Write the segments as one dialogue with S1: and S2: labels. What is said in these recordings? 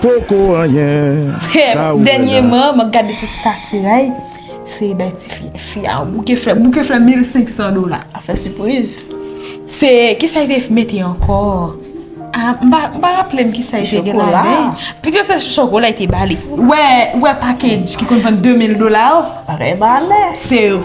S1: Poko anyen sa ou wè la. Dènyeman
S2: mwen gade sou stati Ray se bay ti fi a yon bouke flè. Bouke flè 1500 dola. A fè sipriz. Se kisa li te mete ankò? A m pa raple m kisa li te gen ladan. Ti chokola. Pito se chokola li te ba li. Ou wè package ki konn vann 2000 dola yo? Bagay
S3: malè. Se yo.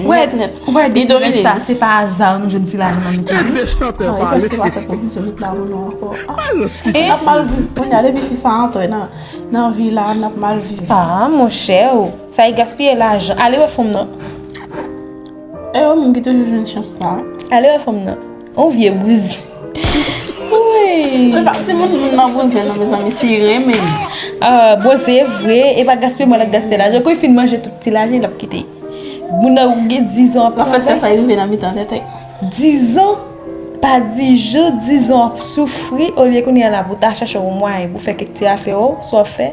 S2: Nèt nèt. Ou wè depi lè sa se pa aza nou jwenn ti lajan nan men ti Di. Mwen preske pa fè
S3: pwofesyon lit la pou nou ankò. N ap mal viv kounya depi fi sa antre nan vi la n ap mal viv. A monchè
S2: o! Sa e gaspiye lajan. Ale wè fanm nan.
S3: E yo menm ki toujou jwenn chans sa. Ale wè fanm nan.
S2: On vye bouzen. Mwen pa ti moun
S3: moun nan bouzen nan mè zanmi si renmen li. Ah bon
S2: se vre e pa gaspiye mwen lap gaspiye lajan kou li fin manje tout ti lajan lap kite. Moun nan ou gen 10 ans ap travay. An fèt se sa rive nan
S3: mitan tèt. 10 ans
S2: pa di jou 10 ans ap soufri olye kounye a la pou ta chache yon mwayen pou fè kèk ti afè ou sa ou fè.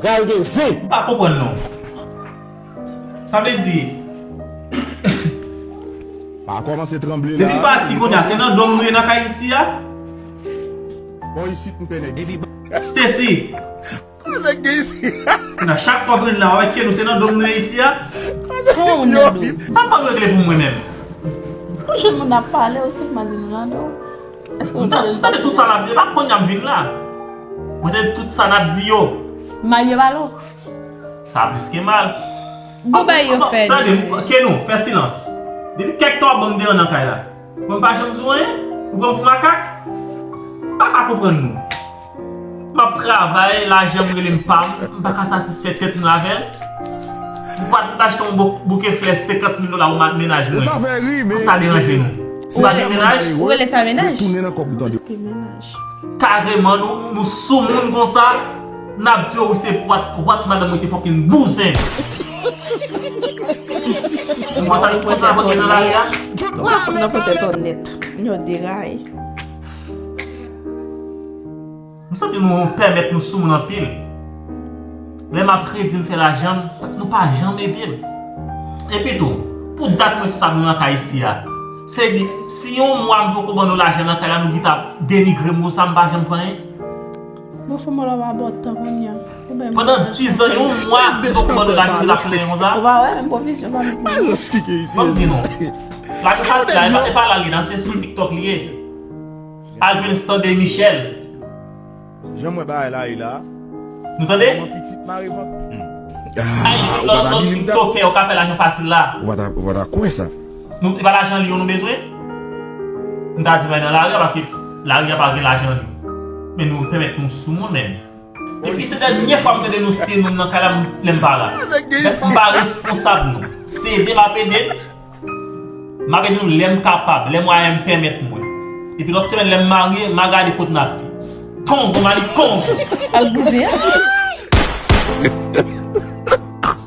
S2: Pral
S4: gen zen. M pa konprann non.
S5: Sa vle di.
S1: Pa komanse tranble la. Depi pati konya se nan
S5: dom nou ye nan kay isi a.
S1: Bon isit m pene isi. Stacy.
S5: Bon
S1: nèg gen isi. Konya chak fwa w
S5: vin la wap mèt pye nou se nan dom nou ye isi a. Fon ou nan do.
S2: Sa pap regle pou
S5: mwen menm. Pou
S3: jan moun ap pale ou sèlman di nou nan do. Nan, tande tout sa nap di, e pa
S5: konnya m vin la. Mwen tande tout sa nap di yo. Mal yo mal o.
S3: Sa
S5: plis ke mal. Bon bagay yo
S2: fè nou. Tande, Kenou, fè
S5: silans. Depi kèk tan wap banm deran nan kay la. Mwen pa janm di w anyen? Ou pran m pou makak? M paka konprann nou. Map travay, lajanm relem pam, m paka satisfè tèt mwen avèl. Ou pa t achte yon bouke flè 50 mil dola ou mat mennaj mwen. Pou sa deranje nou. Ou pa gen mennaj? Ou rele sa mennaj?
S3: Kareman
S5: nou soumoun konsa? Nap di yo ou se pwat, wak madanm mwen te fòkinn bouzen. Ou wè sa nou pran sa vòt gen nan lari a? Ou wè sa nou pran sa
S3: vòt gen nan lari a?
S5: M santi nou pèmèt nou soumoun anpil. Lè m ap redi m fè lajan, nou pa janm ede m. Epitou, pou dat mwen sa nou nan kay isi a, sa vle di si yon mwa m poko ban nou lajan nan kay la nou gin t ap denigre m konsa m pa janm fè anyen? Mwen
S3: fè molo pa bò tan kounye a. Pandan dizan
S5: yon mwa m poko ban nou lajan nou ta plenyen konsa? Ou pa wè menm pwovizyon pa m
S3: di nou. Fò m di
S1: nou,
S5: lajan sa si la e pa la li nan se sou TikTok li ye. Al jwenn stande michel.
S1: Janm wè bagay la ye la. Nou tande. Manman pitit
S5: mare vant. Al jwenn lòt lòt tiktokè ou ka fè lajan fasil la. Ou pa ta kwè sa.
S1: Nou e pa lajan
S5: lyon nou bezwen. Nou ta di nou al nan lari a paske lari a pa gen lajan lyon. Men nou pèmèt nou sou moun men. Depi se dènye fwa m tande nou ste moun nan kay la m lèm pa la. M pa responsab nou. Se ede m ap ede. M ap ede nou lè m kapab, lè mwayen m pèmèt mwen. Epi lòt semèn lè m marye, m a gade kot n ap ye.
S2: Kongo,
S5: Mali, Kongo! Al bouzen an!